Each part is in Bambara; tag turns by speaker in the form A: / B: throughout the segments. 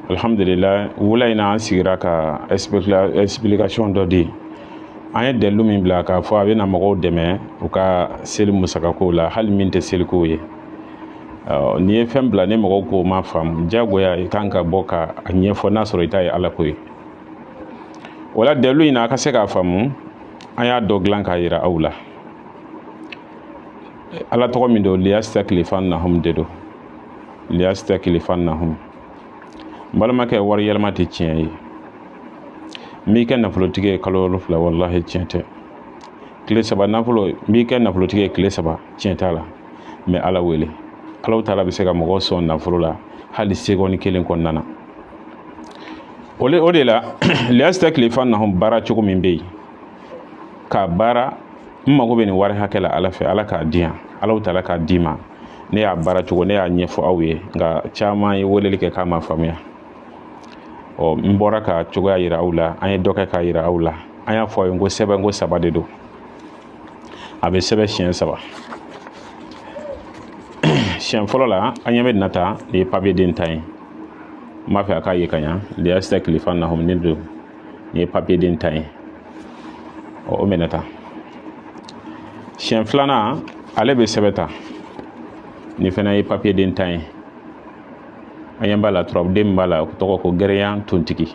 A: alhamdulila wula in na an sigira ka explication dɔ di an ye dalilu min bila k'a fɔ a bɛna mɔgɔw dɛmɛ u ka seli musakakow la hali min tɛ selikow ye n'i ye fɛn bila ni mɔgɔw k'o ma faamu jagoya i kan ka bɔ ka a ɲɛfɔ n'a sɔrɔ i ta ye ala ko ye wala dalilu in na a ka se k'a faamu an y'a dɔ dilan k'a yira aw la ala tɔgɔ min don liyasitakilifanahum de don liyasitakilifanahum n balimakɛ wari yɛlɛma tɛ tiɲɛ ye n b'i kɛ nafolotigi ye kalo wolonfila walahi tiɲɛ tɛ tile saba nafolo n b'i kɛ nafolotigi ye tile saba tiɲɛ t'a la n bɛ ala wele alahu taala bɛ se ka mɔgɔ sɔn nafolo la hali segɔni kelen kɔnɔna na o le o de la liyasitakilifanahum baara cogo min bɛ yen k'a baara n mago bɛ nin wari hakɛ la ala fɛ ala k'a di yan alahu taala k'a d'i ma ne y'a baara cogo ne y'a ɲɛfɔ aw ye nka caman ye weleli kɛ k'a ma faamuya ɔ n bɔra ka cogoya yira aw la an ye dɔ kɛ k'a yira aw la an y'a fɔ aw ye ko sɛbɛn ko saba de don a bɛ sɛbɛn siɲɛ saba siɲɛ fɔlɔ la an ɲɛ bɛ nin na tan nin ye papiye den tan ye n b'a fɛ a k'a ye ka ɲa liyasitakilifanahum de don nin ye papiye den tan ye o minɛ tan siɲɛ filanan ale bɛ sɛbɛn tan nin fana ye papiye den tan ye an ɲɛ b'a la turabuden min b'a la o tɔgɔ ko gɛrɛyan tontigi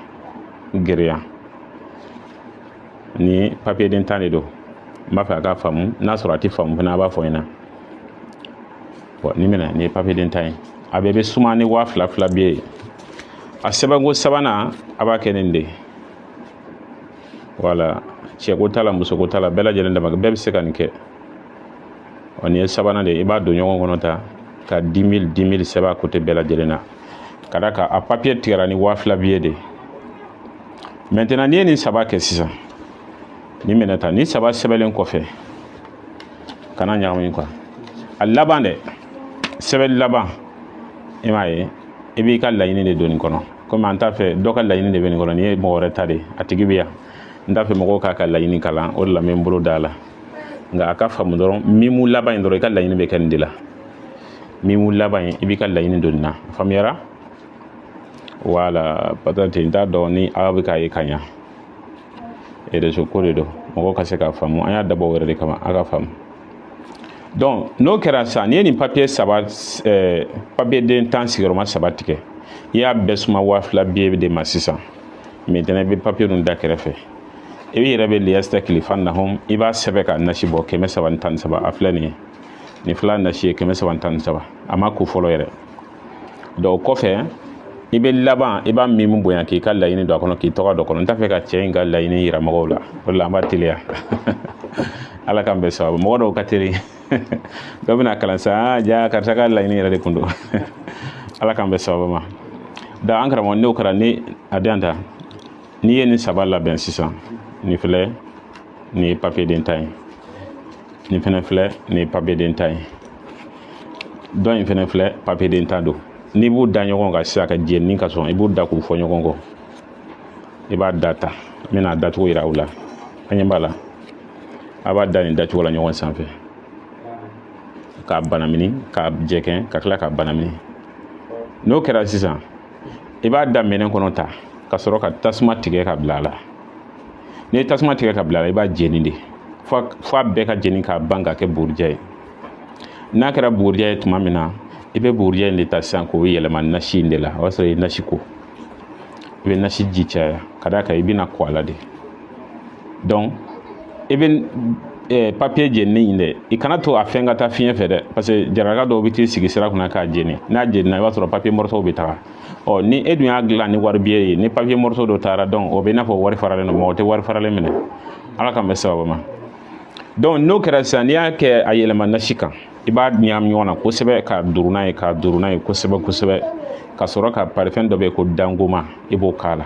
A: gɛrɛyan ni papiye den tan de don n b'a fɛ a ka faamu n'a sɔrɔ a tɛ faamu fana a b'a fɔ n ɲɛna bɔn nin minɛ nin ye papiye den tan ye a bɛɛ bɛ suma ni waa fila fila biye a sɛbɛnko sabanan a b'a kɛ nin de ye wala cɛko t'a la musoko t'a la bɛɛ lajɛlen dama bɛɛ bɛ se ka nin kɛ ɔ nin ye sabanan de ye i b'a don ɲɔgɔn kɔnɔ tan ka dix mille dix mille sɛbɛn a côté bɛɛ lajɛlen na ka d'a kan a papiye tigɛra ni waa fila biye de ye maintenant n'i ye nin saba kɛ sisan nin minɛ tan nin saba sɛbɛnlen kɔfɛ kana ɲagami quoi a laban dɛ sɛbɛn laban i m'a ye i b'i ka laɲini de don nin kɔnɔ komi an t'a fɛ dɔ ka laɲini de bɛ nin kɔnɔ nin ye mɔgɔ wɛrɛ ta de ye a tigi bɛ yan n t'a fɛ mɔgɔw k'a ka laɲini kalan o de la n bɛ n bolo da a la nka a ka faamu dɔrɔn mimu laban in dɔrɔn i ka laɲini bɛ kɛ nin de la mimu laban in i b'i ka laɲini don nin na a faamuyara wala peut-être n t'a dɔn ni aw bɛ k'a ye ka ɲa rezo ko de don mɔgɔw ka se k'a faamu an y'a dabɔ o yɛrɛ de kama a ka faamu donc n'o kɛra sisan n'i ye nin papiye saba eh, papiye den tan sigiyɔrɔma saba tigɛ i y'a bɛɛ suma waa fila biye de ma sisan maintenant i bɛ papiye ninnu da kɛrɛfɛ i yɛrɛ bɛ liyasitakilifanahum i b'a sɛbɛn ka nasi bɔ kɛmɛ saba ni tan ni saba a filɛ nin ye nin fila nasi ye kɛmɛ saba ni tan ni saba a ma ko fɔlɔ yɛrɛ donc o kɔfɛ i bɛ laban i b'a mimi bonya k'i ka laɲini don a kɔnɔ k'i tɔgɔ don a kɔnɔ n t'a fɛ ka cɛ in ka laɲini yira mɔgɔw la o de la an b'a teliya ala k'an bɛn sababu mɔgɔ dɔw ka teli dɔ bɛna kalan sa ah, ja karisa ka laɲini yɛrɛ de kun don ala k'an bɛn sababu ma da an karamɔgɔ n'o kɛra ni a den tan n'i ye nin saba labɛn sisan nin filɛ nin ye papiye den tan ye nin fɛnɛ filɛ nin ye papiye den tan ye dɔ in fɛnɛ filɛ papiye den tan don n'i b'u da ɲɔgɔn kan sisan ka jeni ka sɔn i b'u da k'u fɔ ɲɔgɔn kɔ i b'a da tan n bɛna a dacogo yira aw la an ɲɛ b'a la a b'a da nin dacogo la ɲɔgɔn sanfɛ k'a banamini k'a jɛkɛn ka tila k'a banamini n'o kɛra sisan i b'a da minɛn kɔnɔ tan ka sɔrɔ ka tasuma tigɛ ka bila a la n'i ye tasuma tigɛ ka bila a la i b'a jeni de fo a bɛɛ ka jeni k'a ban ka kɛ bugurijɛ ye n'a kɛra bugurijɛ ye tuma min na i bɛ bugurijɛ in de ta sisan k'o yɛlɛma nasi in de la o y'a sɔrɔ i ye nasi ko i bɛ nasi ji caya ka d'a kan i bɛna ko a la de donc i bɛ eh, papiye jeninen in dɛ i kana to a fɛn ka taa fiɲɛ fɛ dɛ parce que jaralaka dɔw bɛ t'i sigi sira kunna k'a jeni n'a jenina i b'a sɔrɔ papiye mɔrɔsow bɛ taga ɔ ni e dun y'a dilan ni wari biye ye ni papiye mɔrɔso dɔ taara donc o bɛ i n'a fɔ wari faralen don mɔgɔ tɛ wari faralen minɛ ala k'an bɛn sababu ma donc n'o kɛra sisan n'i y'a kɛ a yɛlɛma nasi kan i b'a ɲagami ɲɔgɔn na kosɛbɛ k'a duuru n'a ye k'a duuru n'a ye kosɛbɛ kosɛbɛ ka sɔrɔ ka parifɛn dɔ bɛ yen ko dangoma i b'o k'a la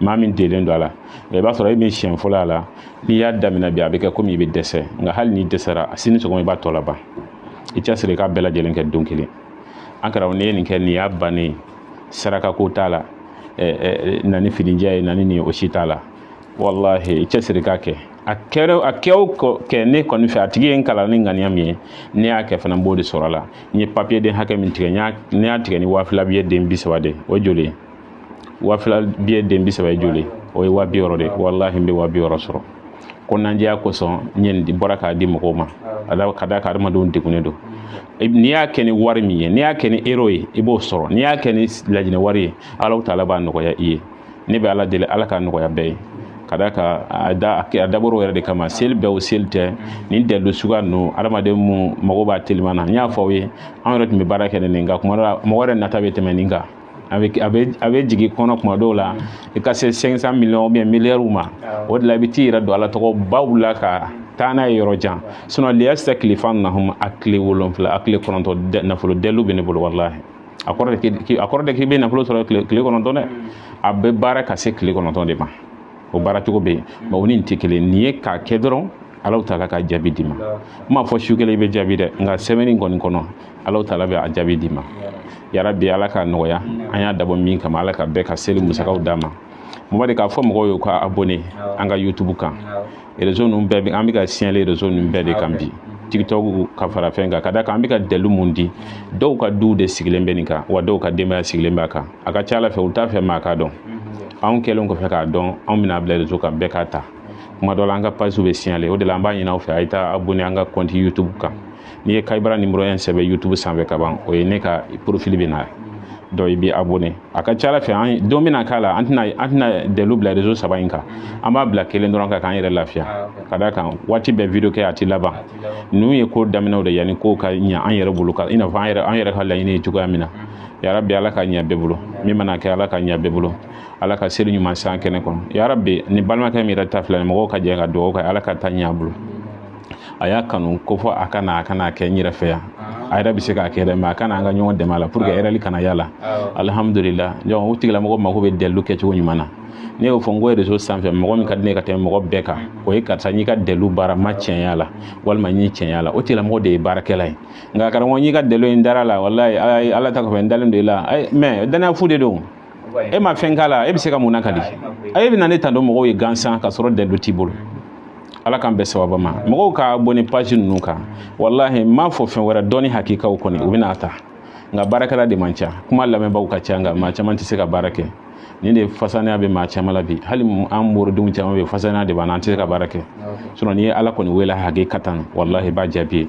A: maa min delen don a la i b'a sɔrɔ e min siɲɛ fɔlɔ a la n'i y'a daminɛ bi a bɛ kɛ komi i bɛ dɛsɛ nka hali n'i dɛsɛra sini sɔgɔma i b'a tɔ laban i cɛsiri k'a bɛɛ lajɛlen kɛ don kelen an karamɔgɔ n'i ye nin kɛ nin y'a bannen sarakako t'a la na ni finijɛ ye na ni nin o si t'a la walahi i cɛsiri k'a kɛ a kɛra a kɛ o kɛ ne kɔni fɛ a tigi ye n kalan ni ŋaniya min ye ne y'a kɛ fana n b'o de sɔrɔ a la n ye papiye den hakɛ min tigɛ n y'a tigɛ ni waa fila biye den bi saba de o joli ye wa fila biye den bi saba ye joli o ye wa bi wɔɔrɔ de walahi n bɛ wa bi wɔɔrɔ sɔrɔ kɔnɔnandiya kosɔn n ye nin de bɔra k'a di mɔgɔw ma ala ka d'a kan adamadenw degunnen don n'i y'a kɛ ni wari min ye n'i y'a kɛ ni euro ye i b'o sɔrɔ n'i y'a kɛ ni laginɛ wari ye ala taala b'a nɔgɔya i ye ne bɛ ala deli ala k'a nɔgɔya bɛɛ ye ka d'a kan a da a dabɔr'o yɛrɛ de kama seli bɛɛ o seli tɛ nin dalilu suguya ninnu adamaden mun mago b'a teliman na n y'a fɔ aw ye an yɛrɛ tun bɛ baara kɛ ni nin nka kuma dɔ la mɔgɔ yɛrɛ nata bɛ tɛmɛ nin kan a bɛ a bɛ a bɛ jigin kɔnɔ kuma dɔw la i ka se 500 millions ou bien miliyariw ma o de la i bɛ t'i yɛrɛ don ala tɔgɔ baw la ka taa n'a ye yɔrɔ jan sinon liyastakhlifannahum a tile wolonfila a tile kɔnɔntɔn nafolo daliluw bɛ ne bolo walahi a kɔrɔ de a kɔrɔ de k'i bɛ nafolo sɔrɔ tile tile kɔnɔntɔn dɛ a bɛ baara ka se tile kɔnɔntɔn de ma o baara cogo bɛ yen mais o ni nin tɛ kelen nin ye k'a kɛ dɔrɔn alahu taala ka jaabi d'i ma n m'a fɔ su kelen i bɛ jaabi dɛ nka sɛbɛnni kɔni kɔnɔ ala taala bɛ a jaabi d'i ma yarabi ala k'a nɔgɔya an y'a dabɔ min kama ala ka bɛɛ ka seli musakaw d'a ma mɔgɔ de k'a fɔ mɔgɔw ye ka abonné an ka youtube kan réseau ninnu bɛɛ an bɛ ka signalé réseau ninnu bɛɛ de kan bi tiktok ka fara fɛn kan ka d'a kan an bɛ ka dalilu mun di dɔw ka duw de sigilen bɛ nin kan wa dɔw ka denbaya sigilen b'a kan a ka ca ala fɛ u t'a fɛ maa k'a dɔn anw kɛlen kɔfɛ k'a dɔn anw bɛna bila réseau kan bɛɛ k'a ta kuma dɔ la an ka page bɛ signalé o de la an b'a ɲini aw fɛ a ye taa abonné an ka compte youtube kan n'i ye kayibara numéro 1 sɛbɛn youtube sanfɛ ka ban o ye ne ka profil bɛ na donc i bɛ abonné a ka ca ala fɛ an don bɛna k'a la an tɛna an tɛna dalilu bila réseau saba in kan an b'a bila kelen dɔrɔn kan k'an yɛrɛ lafiya ah, ka d'a kan waati bɛɛ video kɛ a tɛ laban ninnu ye ko daminɛw de yanni kow ka ɲɛ an yɛrɛ bolo ka i n'a fɔ an yɛrɛ an yɛrɛ ka laɲini ye cogoya min na yarabi ala ka ɲɛ bɛɛ bolo min mana kɛ ala ka ɲɛ bɛɛ bolo ala ka seli ɲuman san kɛnɛ kɔnɔ yarabi ni balimakɛ min yɛrɛ ta filɛ ni mɔgɔw ka jɛ ka dugawu kɛ ala k'a ta ɲɛ a bolo a y'a kanu ko fɔ a kana a kana kɛ n yɛrɛ fɛ yan a yɛrɛ bɛ se k'a kɛ dɛ mais a kana an ka ɲɔgɔn dɛmɛ a la pour que erreur kana y'a la alihamudulila donc o tigilamɔgɔ mako bɛ dalilu kɛcogo ɲuman na ne y'o fɔ n ko réseau sanfɛ mɔgɔ min ka di ne ka tɛmɛ mɔgɔ bɛɛ kan o ye karisa n y'i ka dalilu baara n ma tiɲɛ y'a la walima n ye tiɲɛ y'a la o tigilamɔgɔ de ye baarakɛla ye nka karamɔgɔ n'i ka dalilu in dara a la walayi ala ta kɔfɛ n dalen don i la mais dannaya fu de don e ma fɛn k'a la e bɛ se ka mun lakali a e bɛna ne tando mɔgɔw ye gansan ka sɔrɔ dalilu t'i bolo ala k'an bɛɛ sababa ma mɔgɔw ka abonné page ninnu kan walahi n m'a fɔ fɛn wɛrɛ dɔnni hakikaw kɔni u bɛna a ta nka baarakɛla de man ca kuma lamɛnbaaw ka ca nka maa caman tɛ se ka baara kɛ nin de fasanaya bɛ maa caman la bi hali an moridenw caman bɛ fasanaya de b'an na an tɛ se ka baara kɛ sinon n'i ye ala kɔni wele hakikatan walahi i b'a jaabi ye